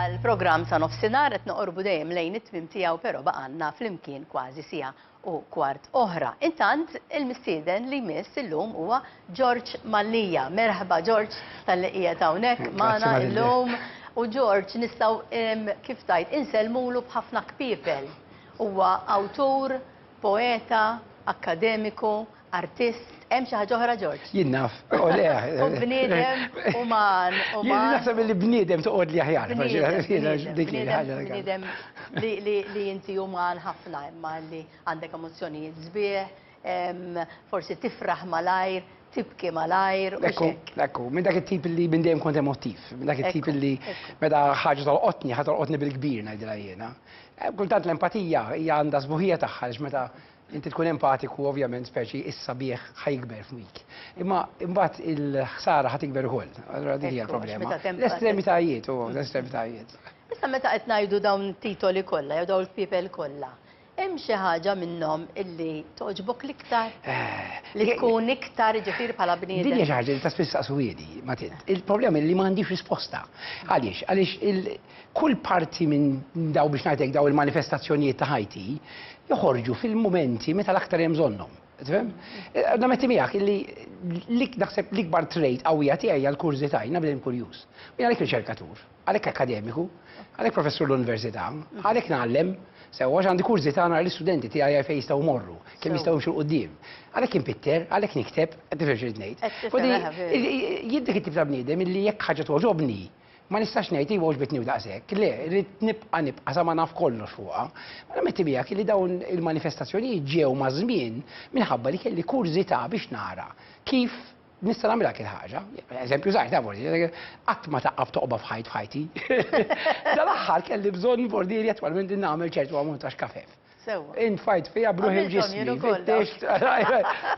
Għall-programm ta' nofsinhar qed noqorbu dejjem lejn it-tmiem tiegħu però baqgħalna flimkien kważi siegħa u kwart oħra. Intant il-mistieden li jmiss illum huwa George Mallia. Merħba George tal-li qiegħed hawnhekk magħna illum. U George nistgħu kif tajt insellmulu b'ħafna kpiepel. Huwa awtur, poeta, akkademiku, Artist, hemm xi ħaġa oħra Ġorġ? Jien naf, u le. U bniedem uman, uman. Jien naħseb li bniedem toqgħod li aħjar. Bniedem li inti uman ħafna imma li għandek emozzjonijiet sbieħ, forsi tifraħ malajr, tibki malajr. Ekku, ekku, minn dak it-tip li minn dejjem kont emotiv, minn dak it-tip li meta ħaġa tolqotni, ħa tolqotni bil-kbir ngħidilha jiena. Kultant l-empatija hija għandha sbuħija tagħha meta Inti tkun empatiku ovvjament speċi is-sabiħ ħa jikber f'wik. Imma imbagħad il-ħsara ħa tikber ukoll. Allura dik hija l-problema. L-estremitajiet u l-estremitajiet. Issa meta qed ngħidu dawn it-titoli kollha jew dawn il-pipel kollha, hemm xi ħaġa minnhom illi togħġbok l-iktar? Eh, li tkun iktar ġifier bħala bniedem. Din hija xi ħaġa li ta' spiss saqsuwiedi, Matin. Il-problema li ma għandix risposta. Għaliex? Għaliex Kull parti minn daw biex ngħidlek daw il-manifestazzjonijiet ta' ħajti joħorġu fil-mumenti meta l-aktar hemm bżonnhom. Tifhem? Għadna metti miegħek illi lik naħseb l-ikbar trade qawwija tiegħi hija l-kurżità, jiena bnedem kurjuż. Jien għalhekk riċerkatur, għalhekk akkademiku, għalhekk professur l-università, għalhekk ngħallem sewwa għax għandi kurżità nara l-istudenti tiegħi fejn jistgħu jmorru, kemm jistgħu jimxu 'l quddiem. Għalhekk inpitter, għalhekk nikteb, qed tifhem x'irid ngħid. Qed tifhem, eħe, veru. Jien dik it-tip ta' bniedem illi jekk ħaġa togħġobni, Ma nistax ngħid iva għoġbitni u daqshekk, le, rrid nibqa' nibqa' sa ma naf kollox fuqha. Ma nammetti miegħek li dawn il-manifestazzjonijiet ġew maż-żmien minħabba li kelli kurżità biex nara kif nista' nagħmilha dik il-ħaġa. Eżempju żgħir, taf forsi, qatt ma taqqa' f'toqba f'ħajt f'ħajti. Dal-aħħar kelli bżonn forsi li attwalment nagħmel ċertu ammont ta' xkafef. Sewwa. Int fajt fija bruħi ġismi.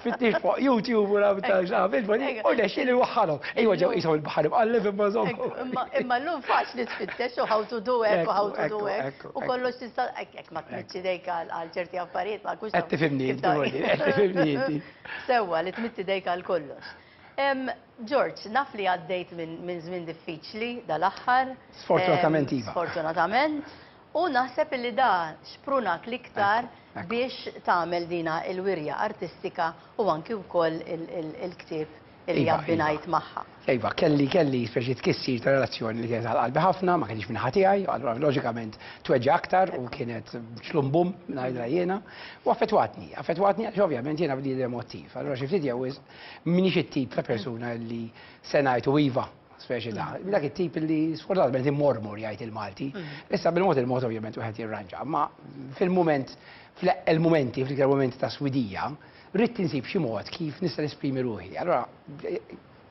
Fittix fuq YouTube u rabi ta' ġabil, bani, u nexxi li waħħalhom. Ejwa ġew jisaw il-baħar imqalleb imma żommu. Imma l-lum faċ li tfittex u ħawtu du hekk u ħawtu du hekk. U kollox tista' hekk ma tmitx idejk għal ċerti affarijiet ma kux. Qed tifimni, qed tifimni. Sewwa li tmitt idejk għal kollox. George, naf li għaddejt minn żmien diffiċli dal-aħħar. Sfortunatament iva. Sfortunatament. U naħseb illi da xprunak l-iktar biex tagħmel dina il-wirja artistika u anki wkoll il-ktieb illi abbinajt magħha. Iva, kelli kelli speċi tkissir ta' relazzjoni li kienet għal qalbi ħafna, ma kinitx min-naħa tiegħi, allura loġikament tweġġa' aktar u kienet xlum bum ngħidilha jiena, u affettwatni, affettwatni għax ovvjament jiena bniedem emotiv. Allura xi ftit jew wisq m'iniex it-tip ta' persuna li se ngħid u iva, speċi ta' mm. dak it-tip li sfortunatament immormor jgħid il-Malti. Mm. Issa bil-mod il-mod ovvjament wieħed jirranġa, ma fil-mument fil-momenti, fil-iktar momenti ta' swidija, rrid tinsib xi mod kif nista' nesprimi ruħi. Allora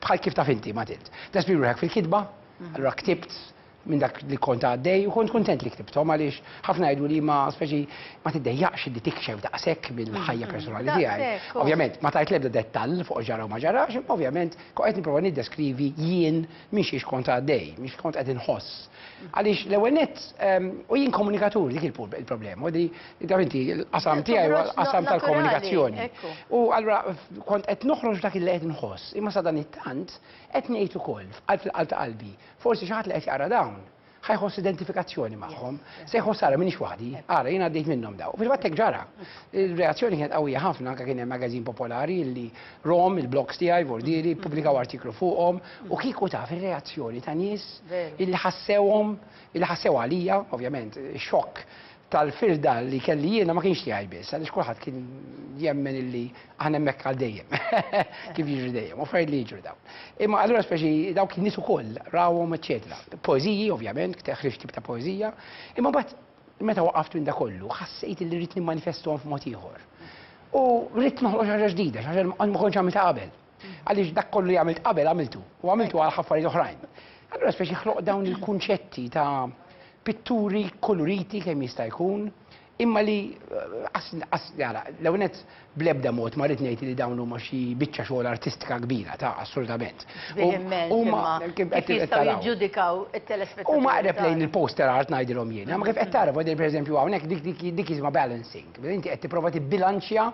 bħal kif taf inti ma tilt. Tesprimi ruħek fil-kitba, mm. allora ktibt minn dak li kont għaddej u kont kuntent li ktibthom għaliex ħafna jgħidu li ma speċi ma tiddejjaqx li tikxef daqshekk mill-ħajja personali tiegħi. Ovvjament ma tajt l-ebda dettall fuq ġara u ma ġarax, imma ovvjament kont qed nipprova niddeskrivi jien minn xiex kont għaddej, minn xi kont qed inħoss. Għaliex l-ewwel nett ehm, u jien komunikatur dik il-problema, li inti l-qasam tiegħi huwa l-qasam tal-komunikazzjoni. U allura kont qed noħroġ dak il-qed nħoss, imma sadan it-tant qed ngħid ukoll fil-qalb ta' qalbi Forsi xi ħadd li qed jaqra dawn ħa jħoss identifikazzjoni magħhom, se jħoss ara m'iniex waħdi, ara jien għaddejt minnhom dawn. U fil-fatt hekk ġara. Ir-reazzjoni kienet qawwija ħafna, anke kien hemm magazin popolari li rom, il-blogs tiegħi, Vordieri, ppubblikaw artiklu fuqhom u kieku taf ir-reazzjoni ta' nies illi ħassewhom, illi ħassew għalija, ovvjament, xokk tal-firda li kelli jiena ma kienx tiegħi biss, għaliex kulħadd kien jemmen illi aħna hemmhekk għal dejjem. Kif jiġri dejjem, u affarijiet li jiġru dawn. Imma allura speċi dawk in-nies ukoll rawhom eċċetera. Poeżiji ovvjament, ħriġt tip ta' poeżija, imma mbagħad meta waqaft minn dak kollu ħassejt illi rrid nimmanifesthom f'mod ieħor. U rrid noħloq xi ħaġa ġdida, xi ħaġa li ma kontx għamiltha qabel. Għaliex dak kollu li għamilt qabel għamiltu, u għamiltu għal affarijiet oħrajn. Allura speċi ħloq dawn il-kunċetti ta' pitturi koloriti kemm jista' jkun, imma li għara, eh, l-ewnet bl-ebda mod ma rrid ngħid li dawn huma xi biċċa xogħol artistika kbira ta' assolutament. Huma jiġġudikaw it-telespettaturi. Huma qreb lejn il-poster art ngħidilhom jiena, ma kif qed tara pereżempju hawnhekk dik jisimha balancing. Inti qed tipprova tibbilanċja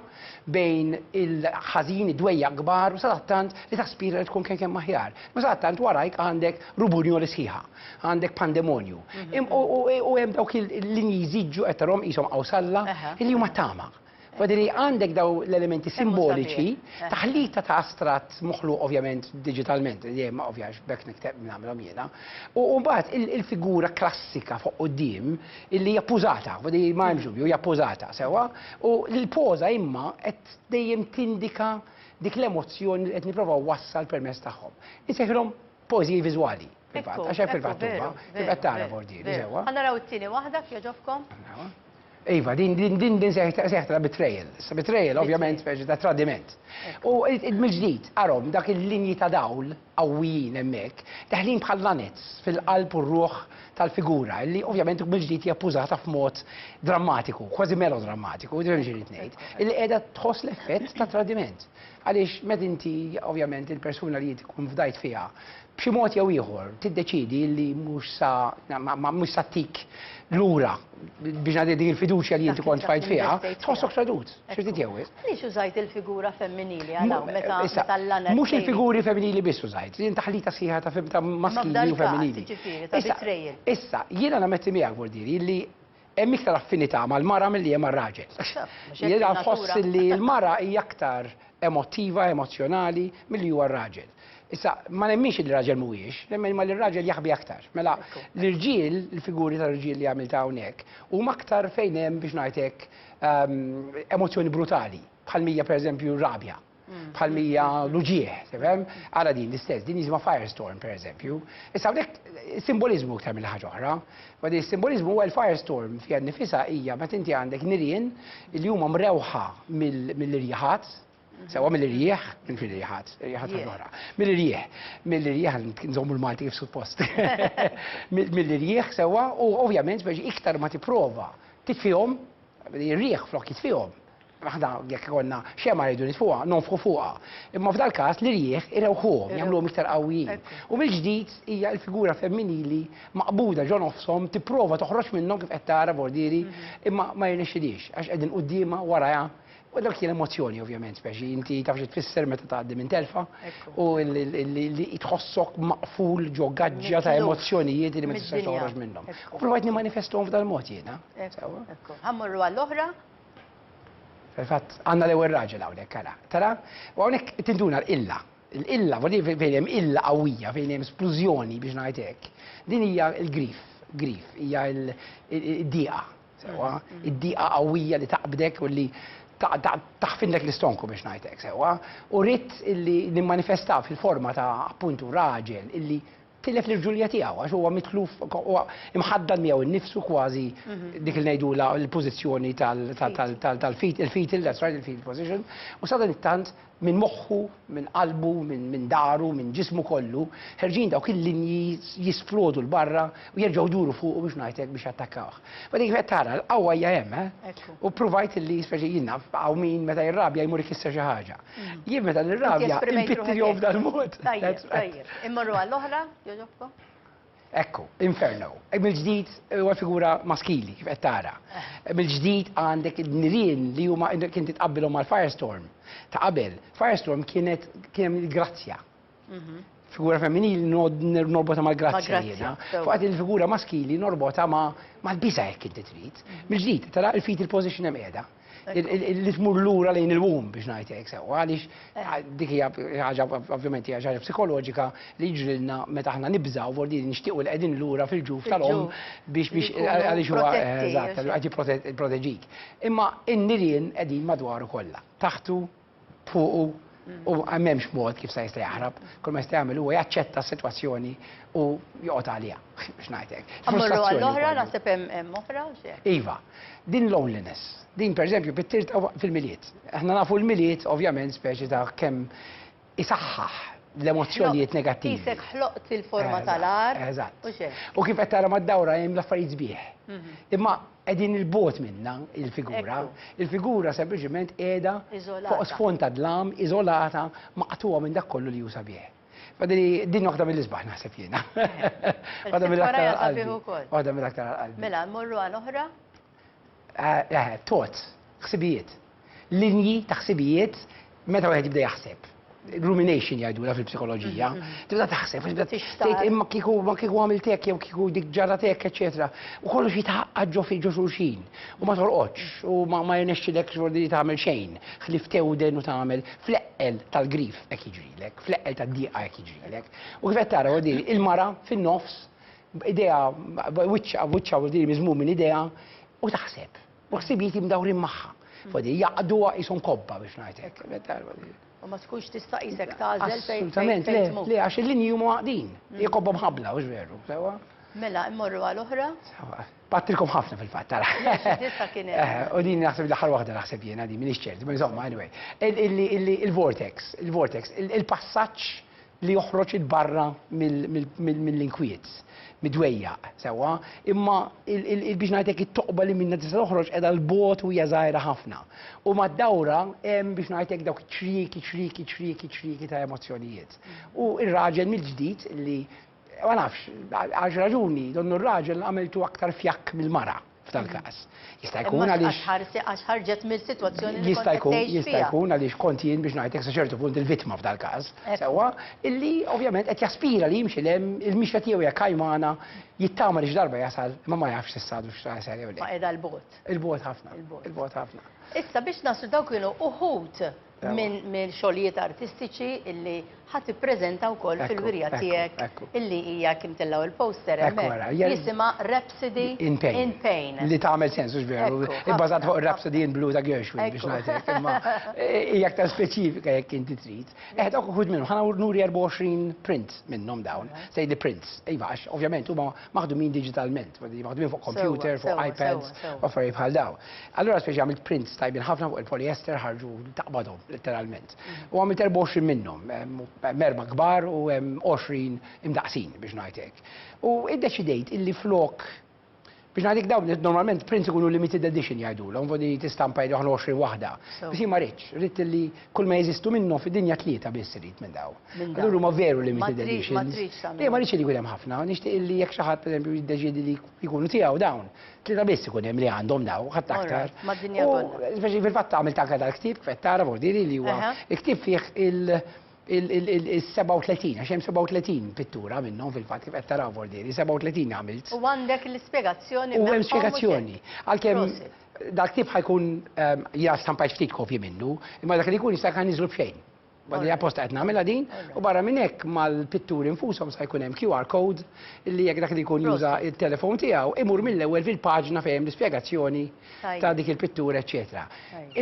bejn il-ħażin, id-dwejjaq kbar u sadattant li taspira li tkun kemm aħjar. U sadattant warajk għandek rubunjoli sħiħa, għandek pandemonju. U hemm dawk il-linji jżidġu qed tarhom qishom qawsalla li huma tama. Badiri għandek daw l-elementi simboliċi, taħlita ta' astrat moħlu ovvjament digitalment, dejjem ovvjax bekk nikteb nagħmilhom jiena. U mbagħad il-figura klassika fuq quddiem illi hija pużata, li ma hemmx dubju, hija pużata sewwa, u l-poża imma qed dejjem tindika dik l-emozzjoni li qed nipprova wassal permezz tagħhom. Insejħilhom poeżiji viżwali. Fil-fatt, għax hemm fil-fatt huma, tibqa' tara bordieri sewwa. Ħa naraw it-tieni waħda kjoġobkom. Iva, din din din din seħtra betrayal. Sa betrayal ovvjament speċi ta' tradiment. U mill-ġdid, arhom dak il-linji ta' dawl qawwijin hemmhekk, daħlin bħal lanez fil-qalb u r-ruħ tal-figura, illi ovvjament mill-ġdid hija ppużata f'mod drammatiku, kważi melodrammatiku, jidhirli xi rrid ngħid, illi qiegħda tħoss l-effett ta' tradiment. Għaliex meta inti, ovvjament, il-persuna li tkun fdajt fiha, b'xi mod jew ieħor tiddeċiedi illi mhux sa, mhux sa ttik lura, biex ngħidilek dik il-fiduċja li inti kont tfajt fiha, tħossok tradut. Xorti tiegħu wisq. Għaliex użajt il-figura femminili għal hawn meta meta l-għana. Mhux il-figuri femminili biss użajt, jien taħlita sħiħa ta' fim ta' maskili u femminili. Issa, issa, jiena nametti miegħek Bordieri li hemm iktar affinità mal-mara milli hemm mar-raġel. Jiena nħoss li l-mara hija aktar emottiva, emozzjonali milli huwa r-raġel. Issa, ma nemminx li raġel mhuwiex, nemmen ma li raġel jaħbi aktar. Mela, l-irġiel, il-figuri tal-irġiel li għamilt hawnhekk, huma aktar fejn hemm biex ngħidlek emozzjoni brutali, bħal mija per eżempju rabja, mm. bħal mija luġieħ, tefhem? Ara din l-istess, din jisma firestorm per eżempju. Issa hawnhekk simbolizmu iktar mill ħaġa oħra. Għadi simbolizmu għal firestorm fiha nifisa hija meta inti għandek nirien li huma mrewħa mill-irjaħat, Sewa mill-irjieħ, minn fil irjieħat, irjieħat l-ora. Mill-irjieħ, mill-irjieħ, nżommu l-Malti kif suppost. Mill-irjieħ sewa, u ovvjament biex iktar ma tipprova titfihom, irjieħ flok jitfihom. Aħna jekk konna xema rridu nitfuha, nonfħu fuqha. Imma f'dal każ li rieħ irewħuhom, jagħmluhom iktar qawwijin. U mill-ġdid hija l-figura femminili maqbuda ġo nofshom tipprova toħroġ minnhom kif qed tara bordieri, mhm. imma ma jirnexxilix għax qegħdin quddiemha warajha U dak kien emozzjoni ovvjament, speċi inti taf xi tfisser meta tgħaddi minn telfa u li tħossok maqful ġo gaġġa ta' emozzjonijiet li ma tistax toħroġ minnhom. U provajt nimmanifesthom f'dal mod jiena. Ħammorru għall-oħra? Fil-fatt għandna l-ewwel raġel hawnhekk ara. Tara, u hawnhekk tinduna l-illa. L-illa, fejn hemm illa qawwija, fejn hemm splużjoni biex ngħid hekk. Din hija l-grif, grif, hija l-diqa. Sewwa, id-diqa qawwija li taqbdek u li taħfindlek l-istonku biex ngħid hekk, sewwa, u ridt illi nimmanifestah fil-forma ta' appuntu raġel illi tilef l-irġulija tiegħu għax huwa mitluf huwa imħaddan miegħu nnifsu kważi dik li ngħidulha l-pożizzjoni tal-feet, il-fetal, that's right, il-fetal position, u sadanittant Minn moħħu, minn qalbu, minn dahru, minn ġismu kollu, ħerġin dawk il-linji jisplodu 'l barra u jerġgħu jduru fuqu biex ngħid hekk biex jattakkawh. Wara dik qed tara, l-qawwa hija hemm, eh! U ppruvajt illi, speċi jien naf hawn min meta jirrabja jmur ikisser xi ħaġa. Jien meta nirrabja npittilhom f'dal-mod. Tajjeb, tajjeb. Immorru għall-oħra, jogħġobkom. Ekku, Inferno. Mill-ġdid huwa figura maskili kif qed tara. Mill-ġdid għandek id-nirien li huma kien titqabbilhom mal-Firestorm ta' qabel. Firestorm kienet kien grazzja. Mhm. Figura femminili norbota mal-grazzja jiena. Fuqat il-figura maskili norbota mal-biża' jekk inti trid. Mhm. Mill-ġdid, tara il-fetal position hemm qiegħda. li tmur lura lejn il-womb biex ngħid hekk sewwa għaliex eh. dik hija ħaġa ovvjament hija ħaġa psikoloġika li jiġrilna meta aħna nibżgħu vordi nixtiequ li qegħdin lura fil-ġuf tal-om biex biex għaliex huwa eh, eżatt qed jipproteġik. Imma n-nirien qegħdin madwaru kollha, taħtu fuqu u m'hemmx mod kif se jista' jaħrab. Kull ma jista' jagħmel huwa jaċċetta s-sitwazzjoni u joqgħod għaliha biex ngħidlek. Ammorru għall-oħra naħseb hemm oħra Iva, din loneliness. Din pereżempju pittir fil-milied. Aħna nafu l-milied ovvjament speċi ta' kemm isaħħaħ l-emozzjonijiet negattivi. Isek ħloqt il-forma tal-ar. Eżatt. U kif qed tara mad-dawra hemm l-affarijiet sbieħ. Mhm. Imma Qegħdin 'il bogħod minnha l-figura. Il-figura sempliċement qiegħda fuq sfond ta' dlam, iżolata, maqtugħa minn dak kollu li hu sabiħ. Din waħda mill-isbaħ naħseb jiena. Waħda mill-aktar għall-qalbi. Waħda mill-aktar għall-qalbi. Mela, mmorru għal oħra? Eħe, thoughts, ħsibijiet. linji ta' ħsibijiet meta wieħed jibda jaħseb. Rumination jgħidulha fil-psikoloġija. Tibda taħseb, għax bda Tixtaq. tgħid imma kieku ma kieku għamilt hekk jew kieku dik ġarrat hekk, eċetera. U kollox jitgħaqqad ġo fi ġo xulxin. U ma torqodx, u ma ma jirnexxilek xordi li tagħmel xejn, ħlief tewden u tagħmel. Fl-eqqel tal-grief hekk jiġrilek, fl-eqqel tad-dieqa hekk jiġrilek. U kif qed tara huwa din il-mara fin-nofs, idea wiċċha wiċċha u din miżmum minn idea, u taħseb. U ħsibijieti mdawrin magħha. Fodi, jaqduha qishom kobba biex ngħid hekk. U ma tkunx tista' qisek tagħżel fejn Assolutament, le, le, għax il-linji huma għaqdin. Hi mm. kobba mħabbla, hux veru, sewwa? Mela, immorru għal oħra? Sewwa. Battilkom ħafna fil-fatt tara. Tista' kien eh, U din naħseb l-aħħar waħda naħseb jiena din m'iniex ċert, ma insomma, anyway. Il-vortex, il-vortex, il-passaġġ li joħroġ 'il barra mill-inkwiet, mid-dwejjaq, sewwa, imma biex ngħid hekk it-toqba li minnha tista' toħroġ qiegħda 'l bogħod u hija żgħira ħafna. U mad-dawra hemm biex ngħid hekk dawk iċ-ċrieki, ċrieki, ċrieki, ċrieki ta' emozzjonijiet. U r-raġel mill-ġdid li, ma nafx, għal xi raġuni donnu r-raġel għamiltu aktar fjakk mill-mara. f'dan każ. Jista' jkun għaliex. Għax ħarġet mill-sitwazzjoni li jista' jkun jista' jkun għaliex kont jien biex ngħidlek sa ċertu punt il-vittma f'dan każ. Sewwa illi ovvjament qed jaspira li jimxi lem il-mixja tiegħu hija kajmana jittama li x'darba jasal imma ma jafx s'issa għadu x'jasal jew le. Ma qiegħda l-bogħod. Il-bogħod ħafna. Il-bogħod ħafna. Issa biex naslu dawk kienu uħud minn xogħlijiet artistiċi illi ħadd ippreżenta wkoll fil-wirja tiegħek illi hija kim tellgħu il-poster hemmhekk jisimha Rhapsody in Pain. Li tagħmel sens mhux veru, ibbażat fuq Rhapsody in Blue ta' Gershwin biex ngħidlek. Imma hija aktar speċifika jekk inti trid. Eħed uħud minnhom, ħana nuri 24 print minnhom dawn, sejdi prints. Iva, għax ovvjament huma maħdumin digitalment, maħdumin fuq computer, fuq iPads, u affarijiet bħal daw. Allura speċi għamilt prints tajbin ħafna fuq il-poliester ħarġu taqbadhom letteralment. U għamilt 24 minnhom, merba kbar u 20 imdaqsin biex ngħidlek. U iddeċidejt illi flok biex ngħidik dawn normalment prints ikunu limited edition jgħidulhom, vodi tistampa jgħidu 20 waħda. Bisi ma rridx, rrid li Kull ma jeżistu minnhom fid-dinja tlieta biss irid minn daw. Allura huma veru limited editions. Le ma rridx li jkun hemm ħafna, nixtieq li jekk xi ħadd pereżempju jiddeċiedi li jkunu tiegħu dawn, tlieta biss ikun hemm li għandhom daw, ħadd aktar. Mad-dinja kollha. Speċi fil-fatt għamilt anke dal-ktieb kif qed tara b'ordini li huwa il-ktieb fih il- il-37, għax hemm 37 pittura minnhom fil-fatt kif qed taraw b'ordini, 37 għamilt. U għandek l-ispjegazzjoni. U hemm spjegazzjoni. Għalkemm Dal-ktieb ħa jkun jiena stampajt ftit kopji minnu, imma dak li jkun jista' jkun niżlu b'xejn. Badi apposta qed nagħmilha din u barra minn hekk mal-pitturi nfushom sa jkun hemm QR code li jekk dak li jkun juża t-telefon tiegħu imur mill-ewwel fil-paġna fejn hemm l-ispjegazzjoni ta' dik il-pittura eċċetera.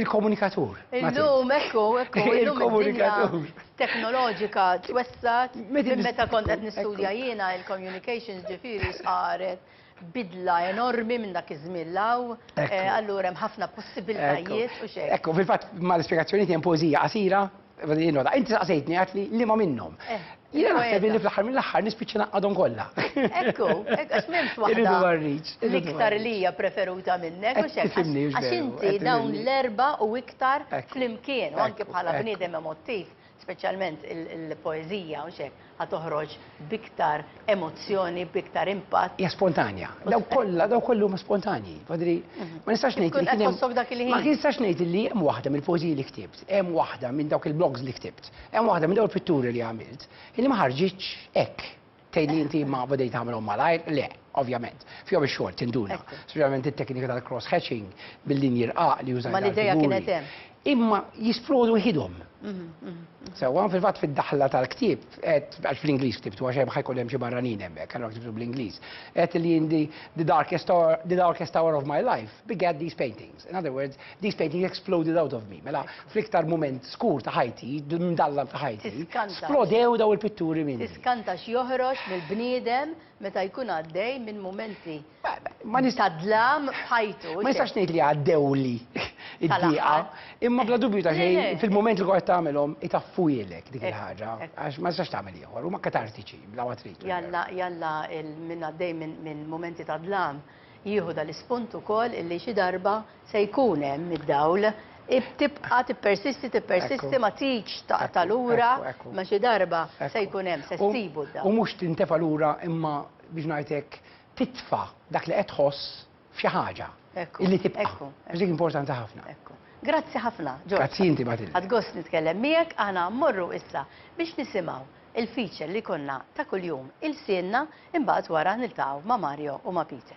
Il-komunikatur. Illum ekku, ekku, illum id-dinja teknoloġika twessgħet minn meta kont qed nistudja jiena il-communications ġifieri x'qaret. bidla enormi minn dak iż-żmien l-hawn, allura hemm ħafna possibiltajiet u x'hekk. Ekku, fil-fatt mal-ispjegazzjonijiet hemm poeżija qasira, inti saqsejtni għidt li liema minnhom. Jiena naħseb li fl-aħħar mill-aħħar nispiċċa ngħaqqadhom kollha. Ekku, ekku, għax m'hemmx waħda l-iktar li hija preferuta minnek u x'hekk. Għax inti dawn l-erbgħa u iktar flimkien, u anke bħala bniedem emotiv. speċjalment il-poeżija, mhux hekk, ħa toħroġ b'iktar emozzjoni, b'iktar impatt. Hija spontanja. Dawk kollha, dawk kollha huma spontanji. Badri, mhm. ma nistax ngħid li kien hemm. Ma nistax ngħid li hemm waħda mill-poeżiji li ktibt, hemm waħda minn dawk il-blogs li ktibt, hemm waħda minn dawk il-pitturi li għamilt, li ma ħarġitx hekk. Tgħid li inti ma bdejt tagħmilhom malajr? Le, ovvjament. Fihom ix-xogħol tinduna. Speċjalment it-teknika tal-cross hatching bil-linji rqaq li użajt. Ma l-idea kienet hemm. Imma jisplodu ħidhom. Mhm, mhm. Sewwa fil-fatt fid-daħla tal-ktieb, għax fl-Ingliż ktibtu għax hemm ħajkun hemm xi barranin hemmhekk, allura ktibtu bl-Ingliż. Qed li jindi the darkest hour of my life begat these paintings. In other words, these paintings exploded out of me. Mela, fl-iktar mument skur ta' ħajti, mdallam ta' ħajti, splodew daw il-pitturi minni. Tiskanta x'joħroġ mill-bniedem meta jkun għaddej minn mumenti ta' dlam f'ħajtu. Ma nistax ngħid li għaddewli id-dieqa, imma bla dubju ta' xejn fil-mument li qed tagħmilhom itaffujlek dik il-ħaġa għax ma tistax tagħmel ieħor, huma katartiċi bla ma trid. Jalla, jalla minn għaddej minn mumenti ta' dlam. Jieħu dal-ispunt ukoll illi xi darba se jkun hemm id-dawl. Tibqa' tippersisti, tippersisti ma tridx taqta' lura, imma xi darba se jkun hemm, se ssibu d-dawl. U mhux tintefa' lura imma biex ngħid hekk, titfa' dak li qed tħoss f'xi ħaġa illi tibqa'. Għax dik importanti ħafna. Grazzi ħafna, George. Grazzi inti, Matilde. Ħadt gost nitkellem miegħek, aħna mmorru issa biex nisimgħu Il-feature li jkollna ta' kuljum ilsienna, imbagħad wara niltaqgħu ma' Mario u ma' Peter.